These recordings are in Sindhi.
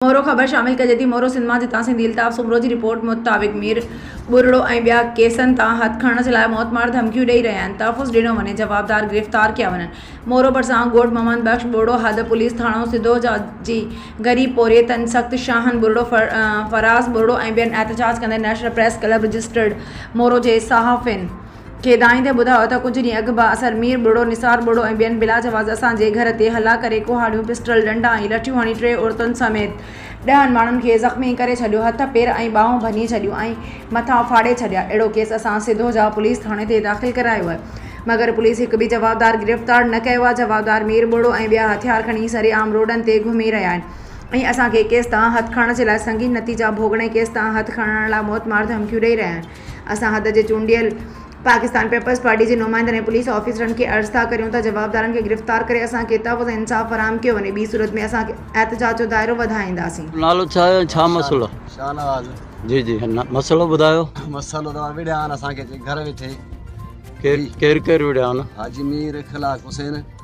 مورو خبر شامل ڪجي ٿي مورو سنڌ مان جتان سنڌي الطاف سومرو جي رپورٽ مطابق مير ٻرڙو ۽ ٻيا ڪيسن تان هٿ کڻڻ جي لاء موت مار ڌمڪيون ڏئي رهيا آهن تحفظ ڏنو وڃي جوابدار گرفتار ڪيا وڃن مورو ڀرسان ڳوٺ محمد بخش ٻوڙو حد پوليس ٿاڻو سڌو جي غريب پورهيتن سخت شاهن ٻرڙو فراز ٻرڙو ۽ ٻين احتجاج ڪندڙن national press club registered Moro جي صحافين کيدائين ٿي ٻڌايو ته ڪجهه ڏينهن اڳ به اثر مير ٻڙو، نثار ٻڙو ۽ ٻين بلاجواز اسان جي گهر تي حلا ڪري ڪهاڙيون، پسٽل، ڏنڊا ۽ لٺيون هڻي ٽي عورتن سميت ڏهن ماڻهن کي زخمي ڪري ڇڏيو، هٿ، پير ۽ ٻانهون ڀڃي ڇڏيون ۽ مٿا ڦاڙي ڇڏيا. اهڙو ڪيس اسان سڌوجا پوليس ٿاڻي تي داخل ڪرايو آهي، مگر پوليس هڪ به جوابدار گرفتار نه ڪيو آهي، جوابدار مير ٻڙو ۽ ٻيا هٿيار کڻي سري عام روڊن تي گهمي رهيا آهن ۽ اسان کي ڪيس تان هٿ کڻڻ جي لاء سنگين نتيجا ڀوڳڻي ڪيس تان هٿ کڻڻ لاء موتمار ڌمڪيون ڏئي رهيا آهن. اسان حد جي چونڊيل پاڪستان پيپلز پارٽي جي نمائندن ۽ پوليس آفيسرن کي عرض ٿا ڪريون ته جوابدارن کي گرفتار ڪري اسان کي تحفظ ۽ انصاف فراهم ڪيو وڃي ٻي صورت ۾ اسان کي احتجاج جو دائرو وڌائينداسين. نالو ڇا ۽ ڇا مسئلو. شاهنواز. جي جي مسئلو ٻڌايو. مسئلو ته وڙهيا آهن اسان کي گهر ويٺي. ڪير ڪير وڙهيا آهن. حاجي مير اخلاق حسين.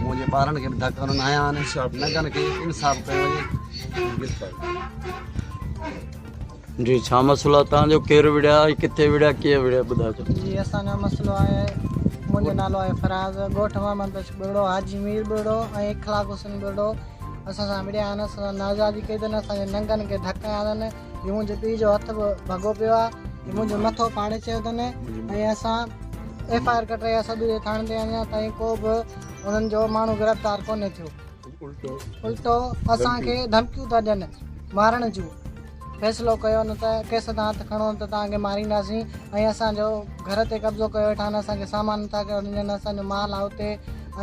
منهنجي ٻارن کي به ڌڪ هڻن آيا آهن ننگن کي انصاف ڪيو وڃي جي ڇا مسئلو آهي تان جو ڪير وڙيا ۽ ڪٿي وڙيا ڪيئن وڙيا ٻڌاجو جي اسان جو مسئلو آهي منهنجو نالو آهي فراز ڳوٺ محمد بخش ٻرڙو حاجي مير ٻرڙو ۽ اخلاق حسين ٻرڙو اسان سان وڙيا آهن اسان سان نااهدادي ڪئي اٿن اسان جي ننگن کي ڌڪ هنيا اٿن هي منهنجي پيء جو هٿ به ڀڳو پيو آ هي منهنجو مٿو ڦاڙي چيو تن ۽ اسان ايف آء آر ڪٽري يا سدوري ٿاڻي تي اڃا تائين ڪو به انهن جو ماڻهو گرفتار ڪونهي ٿيو الٽو اسان کي ڌمڪيون ٿا ڏين مارڻ جون فيصلو ڪيو نه ته ڪيس تان هٿ کڻو ته تان کي مارينداسين ۽ اسان جو گهر تي قبضو ڪيو ويٺا آهن اسان کي سامان نٿا ڏين اسان جو مال آ اتي